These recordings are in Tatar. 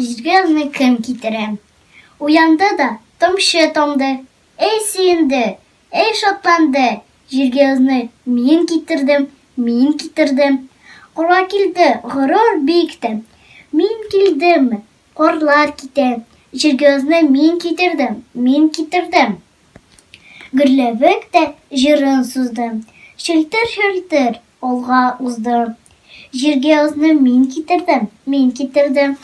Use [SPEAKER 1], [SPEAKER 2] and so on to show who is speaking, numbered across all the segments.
[SPEAKER 1] Җиргә кем китерә? Уянды да тамчы тамды. Әй сөенде, әй шатланды. Җиргә озны мин китердем, мин китердем. Кора килде, горур биектем. Мин килдем, корлар китә. Җиргә озны мин китердем, мин китердем. Гөрләвек тә җырын сузды. Челтер-челтер алга узды. Җиргә озны мин китердем, мин китердем.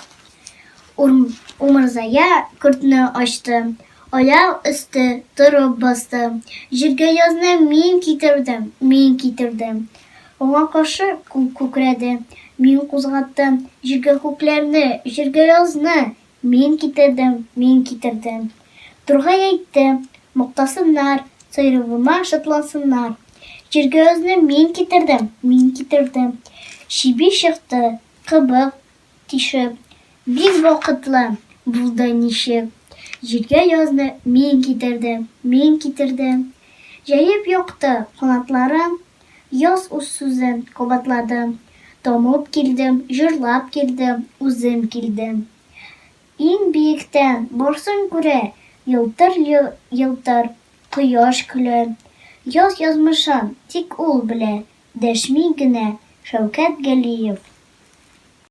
[SPEAKER 1] Умырзая көртне ачты. Аяк өсте торып басты. Җиргә язны мин китердем, мин китердем. Аңа каршы күк күкрәде. Мин кузгаттым җиргә күкләрне, җиргә язны. Мин китердем, мин китердем. Тургай әйтте, мактасыннар, Сыйруыма шатлансыннар. Җиргә озны мин китердем, мин китердем. Чиби чыкты, кыбык тишеп, Бик вакытлы булды ничек. Җиргә язны мин китердем, мин китердем. Җәеп якты канатларын, Яз үз сүзен кабатлады. Тамып килдем, җырлап килдем, үзем килдем. Иң биектән барсын күрә елтыр-елтыр кояш көлә. Яз язмышын тик ул белә, дәшми генә Шәүкәт Галиев.